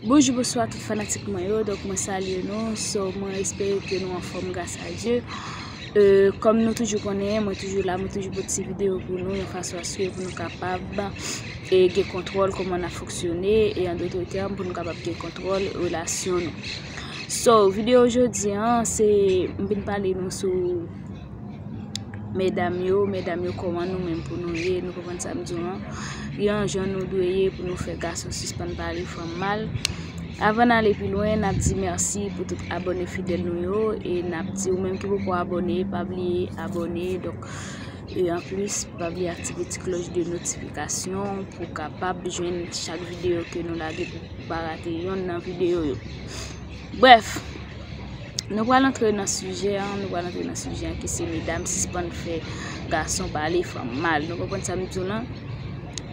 Bonjou bonswa tout fanatik mwen yo donk mwen salye nou so mwen espere ke nou anfòm gras a Dye kòm nou toujou konnen mwen toujou la mwen toujou pote ti videyo pou nou yon fason aske pou nou kapab gen kontwòl kòman nap foksyone e an dotre tèm pou nou kapab gen kontwòl relasyon nou so videyo jodi an se m vin pale nou sou Medam yo, medam yo kòman nou menm pou nou ye, nou konprann sa m di nou an, gen yon jan nou dwe ye pou nou fè gason sispann pale fanm mal. Avan n ale pi lwen, n ap di mèsi pou tout abòne fidèl nou yo e n ap di ou menm ki poko abòne, pa bliye abòne donk e anplis pa bliye aktive ti klòch de notifikasyon pou w kapab jwenn chak videyo ke nou lage pou w pa rate yonn nan videyo yo. Bref, nou pral antre nan sijè an, nou pral antre nan sijè an ki se medam sispann fè gason pale fanm mal. Nou konprann sa m di w lan?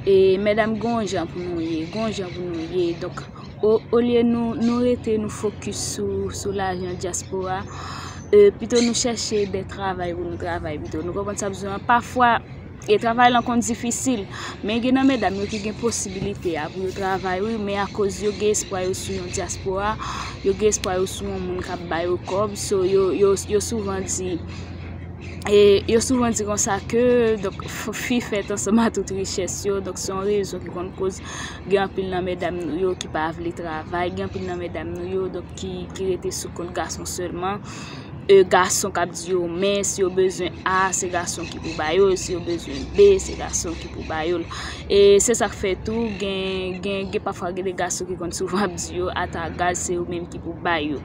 E medam gon jan pou nou ye, gon jan pou nou ye. Donk, olye nou rete nou fokis sou lajan dyaspora, pito nou chèche de travay pou nou travay pito. Nou konprann sa m di w lan? Pafwa. E travay lan konn difisil, men gen nan medam yo ki gen posibilite a pou yo travay wi, men akoz yo gen espwa yo sou yon dyaspora, yo gen espwa yo sou yon moun k ap ba yo kòb, so yo souvan di, e yo souvan di konsa ke, donk fi fèt ansanm a tout richès yo, donk se yon rezon ki konn koz gen anpil nan medam nou yo ki pa vle travay, gen anpil nan medam nou yo donk ki rete sou kont gason sèlman. e gason kap di yo men si yo bezwen a se gason ki pou bayo si yo bezwen be se gason ki pou bayo e se sak fè tou gen gen gen pa fwa gen de gason ki konn souvan ap di yo ata gaz se yo menm ki pou bayo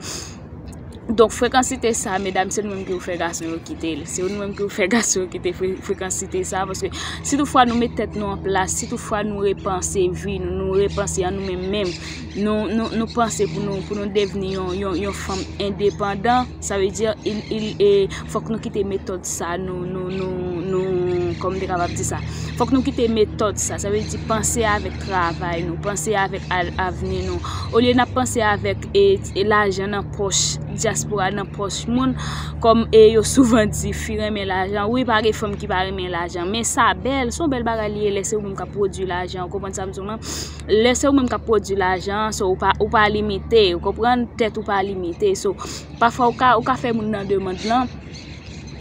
donk frekansite sa medam se nou menm ki pou fè gason yo kite l se nou menm ki pou fè gason yo kite frekansite sa paske si tou fwa nou met tèt nou an plas si tou fwa nou repanse vi nou nou repanse an nou menm menm Nou panse pou nou devni yon fanm endepandan, sa vle di fòk nou kite metòd sa, kòman te kapab di sa, fòk nou kite metòd sa, sa vle di panse avèk travay nou, panse avèk avni nou, olye nan panse avèk lajan nan pòch, diaspora nan pòch moun, kòm e yo souvan di fi renmen lajan, wi pa gen fanm ki pa renmen lajan, men sa bèl, son bèl bagay li ye lè se ou menm kap pwodui lajan, ou konprann sa m di w lan? lè se ou menm kap pwodwi lajan an, so ou pa limite, ou konprann, tèt ou pa limite, so pafwa ou ka fè moun nan demand lan,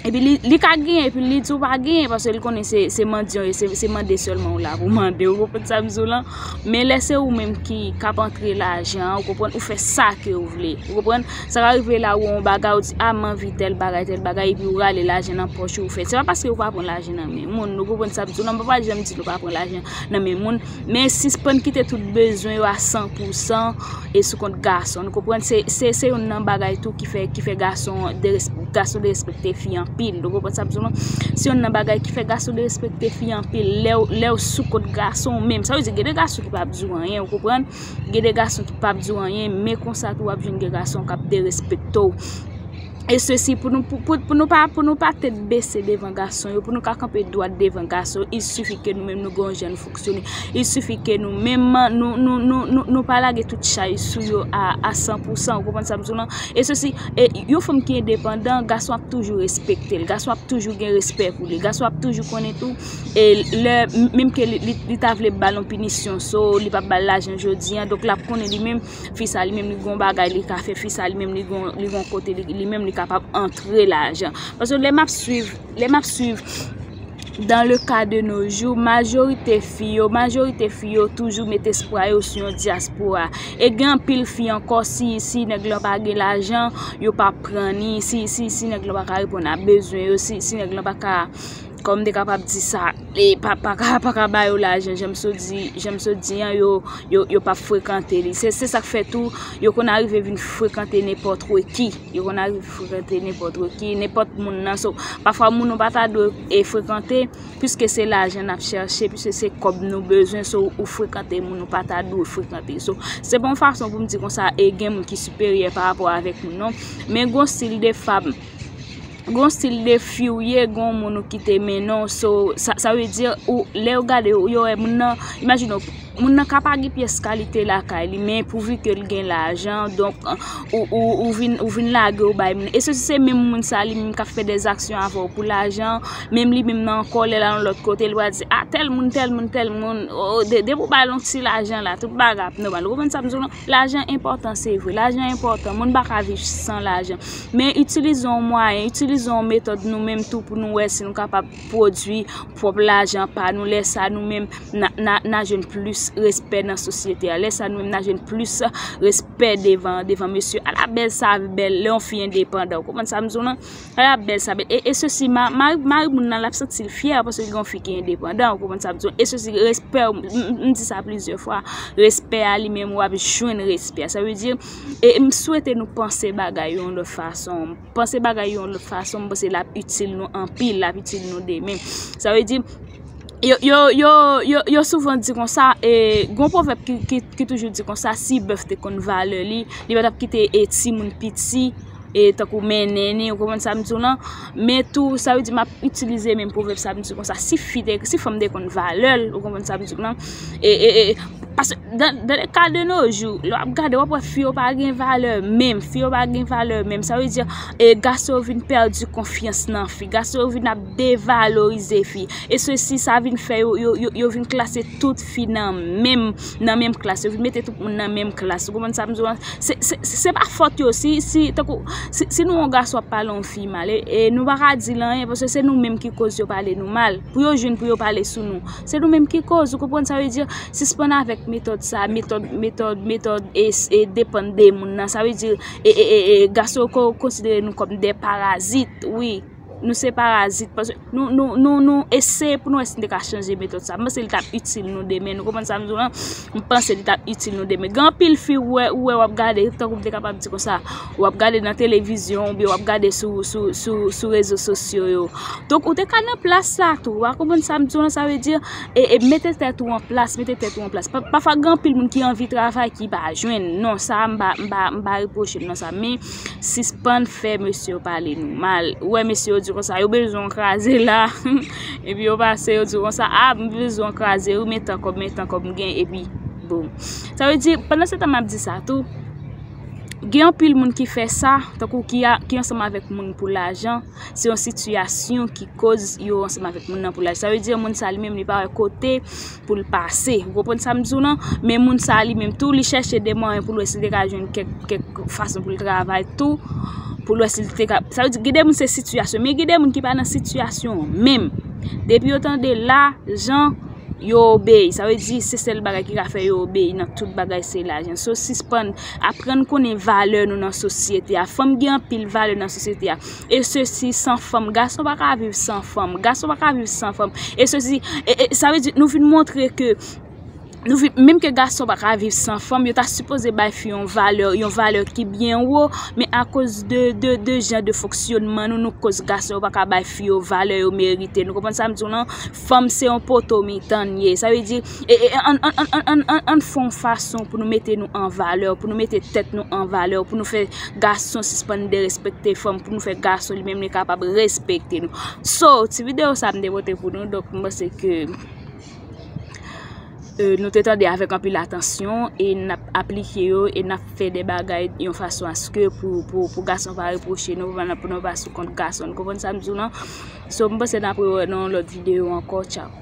epi li ka gen, epi li di ou pa gen, paske li konnen se mandyan ou ye, se mande sèlman ou la pou mande, ou konprann sa m di w lan, men lè se ou menm ki kap antre lajan an, ou konprann, ou fè sa ke ou vle, ou konprann, sa ka rive la ou wè yon bagay, ou di a m anvi tèl bagay, tèl bagay, epi ou rale lajan nan pòch ou, ou fè, se pa paske ou pa pran lajan nan men moun, ou konprann sa m di w lan, m pa janm di nou pa pran lajan nan men moun. Men sispann kite tout bezwen yo a san pou san e sou kont gason. Nou konprann se yon nan bagay tou ki fè gason derespekte fi anpil. Nou konprann sa m di w lan? Se yon nan bagay ki fè gason derespekte fi anpil. Lè w sou kont gason w menm. Sa vle di gen de gason ki pa ap di w anyen, ou konprann? Gen de gason ki pa ap di w anyen, men konsa tou w ap jwenn de gason k ap derespekte w. E sesi pou nou pou nou pa pou nou pa tèt bese devan gason yo, pou nou ka kanpe dwat devan gason yo, il sifi ke nou menm nou gon jan nou fonksyone, il sifi ke nou menm nou nou nou nou pa lage tout chay sou yo a san pou san, ou konprann sa m di w lan? E sesi, e yon fanm ki endepandan, gason ap toujou respekte l, gason ap toujou gen respè pou li, gason ap toujou konnen tou, e lè menm ke li ta vle ba l yon pinisyon, so li pa ba l lajan jodi an, donk l ap konnen li menm. fi sa li menm li gon bagay li ka fè, fi sa li menm li gon kote li menm li kapab antre lajan. Paske lè map swiv, lè map swiv dan le ka de nou jou, majorite fi yo, majorite fi yo toujou met espwa yo sou yon diaspora. E gen anpil fi ankò si, si nèg lan pa gen lajan, yo pa pran ni, si, si, si nèg lan pa ka reponn a bezwen yo, si, si nèg lan pa ka. Kòm te kapab di sa, e pa ka ba yo lajan, jan m sot di an, yo pa frekante li. Se sa k fè tou, yo konn arive vin frekante nenpòt wè ki. Yo konn arive frekante nenpòt wè ki, nenpòt moun nan. So, pafwa moun ou pa ta dwe e frekante, piske se lajan n ap chèche, piske se kòb nou bezwen, so ou frekante moun ou pa ta dwe frekante. So, se pa yon fason pou m di konsa, e gen moun ki siperyè pa rapò avèk moun, non. Men gon stil de fab. Gon stil de fi ou ye gon moun ou kite mennen w so sa vle di ou lè yo gade w yo wè moun nan imajine w moun nan ka pa gen pyès kalite lakay li men pouvu ke l gen lajan donk ou vin ou vin lage w bay moun e se si se menm moun sa li menm k ap fè dè zaksyon avè w pou lajan menm li menm nan ankò lè l al yon lòt kote l va di a tèl moun tèl moun tèl moun depi w bay l yon ti lajan la tout bagay ap nòmal ou konprann sa m di w la. Lajan enpòtan se vre, lajan enpòtan, moun pa ka viv san lajan. Men itilize yon mwayen, itilize yon metòd nou menm tou pou nou wè si nou kapab pwodui pwòp lajan pa nou. Lè sa nou menm nan jwenn plis respè nan sosyete a, lè sa nou menm nan jwenn plis respè devan mesye. Ala bèl sa vi bèl, lè yon fi endepandan, ou konprann sa m di w lan? Ala bèl sa bèl e sesi mari moun nan l ap santi l fyè paske gen yon fi ki endepandan ou konprann sa m di w e sesi respè ou m di sa plizyè fwa respè a li menm w ap jwenn respè a sa vle di e m swete nou panse bagay yo yon lòt fason panse bagay yo yon lòt fason m panse l ap itil nou anpil l ap itil nou demen sa vle di yo yo yo yo yo souvan di kon sa e gon pwovèp ki toujou di kon sa si bèf te konn valè li li pa t ap kite e timoun piti e tankou mennen ni, ou konprann sa m di w lan, men tou sa vle di m ap itilize menm pwovèb sa m di w konsa, si fi te, si fanm te konn valè l, ou konprann sa m di w lan, e, e, e, paske dan, dan le ka de no jou, lè w ap gade w ap wè fi yo pa gen valè menm, fi yo pa gen valè menm, sa vle di, e gason yo vin pèdi konfyans nan fi, gason yo vin ap devalorize fi, e se si sa vin fè yo, yo, yo vin klase tout fi nan menm. nan menm klas, yo vin mete tout moun nan menm klas, ou konprann sa m di w la, se pa fòt yo, si, si, tankou, si nou wè yon gason ap pale yon fi mal, e nou pa ka di l anyen, paske se nou menm ki koz yo pale nou mal, pou yo jwenn pou yo pale sou nou, se nou menm ki koz, ou konprann sa m vle di, sispann avèk metòd sa, metòd, metòd, metòd, e, e, depann de moun nan, sa vle di, e, e, e, e, gason yo konsidere nou kòm de parazit, wi. Nou se parazit paske nou eseye pou nou wè si nou te ka chanje metòd sa. M panse li t ap itil nou demen. Nou konprann sa m di w lan? M panse li t ap itil nou demen. Gen anpil fi ou wè ou ap gade, tankou m te kapab di konsa, ou ap gade nan televizyon oubyen ou ap gade sou rezo sosyo yo. Donk ou te ka nan plas sa tou. Ou a konprann sa m di w lan? Sa vle di, mete tèt ou an plas, mete tèt ou an plas. Pafwa gen anpil moun ki anvi travay ki pa jwenn. Non, sa a m pa repwoche l non sa. Men. Sispann fè mesye yo pale nou mal. Ou wè mesye yo di konsa, yo bezwen w kraze la. Epi yo pase yo di konsa, a m bezwen w kraze wi men tan kòb, men tan kòb m gen epi boum. Sa vle di, pandan se tan m ap di sa tou, gen anpil moun ki fè sa, tankou ki ansanm avèk moun pou lajan. Se yon sitiyasyon ki koz yo ansanm avèk moun nan pou laj. Sa vle di moun sa li menm li pa wè kote pou l pase. Ou konprann sa m di w lan? Men moun sa li menm tou li chèche de mwayen pou l wè si l te ka jwenn kèk fason pou l travay tou. Pou l wè si l te ka... Sa vle di gen de moun se sitiyasyon. Men gen de moun ki pa nan sitiyasyon menm. Depi yo tande la, jan, yo obeyi. Sa vle di se sèl bagay ki ka fè yo obeyi nan tout bagay se lajan. So sispann Aprann konnen valè nou nan sosyete a. Fanm gen anpil valè nan sosyete a. E se si san fanm. Gason pa ka viv san fanm. Gason pa ka viv san fanm. E se si. Sa ve di nou vin montre ke. Menm ke gason pa ka viv san fanm. Yo ta sipoze bay fi yon valè. Yon valè ki byen wo. Men a koz de jan de fonksyonman nou. Nou koz gason pa ka bay fi yo valè yo merite. Nou konpon sa m di w lan. Fanm se yon poto mitan. Sa ve di. Ann fè yon fason pou nou mete nou an valè, pou nou mete tèt nou an valè, pou nou fè gason sispann derespekte fanm, pou nou fè gason li menm li kapab respekte nou. So, ti videyo sa m te pote pou nou, donk m panse ke nou te tande avèk anpil atansyon, e n ap aplike yo, e n ap fè de bagay yon fason aske pou gason pa repwoche nou, pou nou pa sou kont gason. Konprann sa m di w lan? So, m panse n ap re wè nan yon lòt videyo ankò. Tchaw!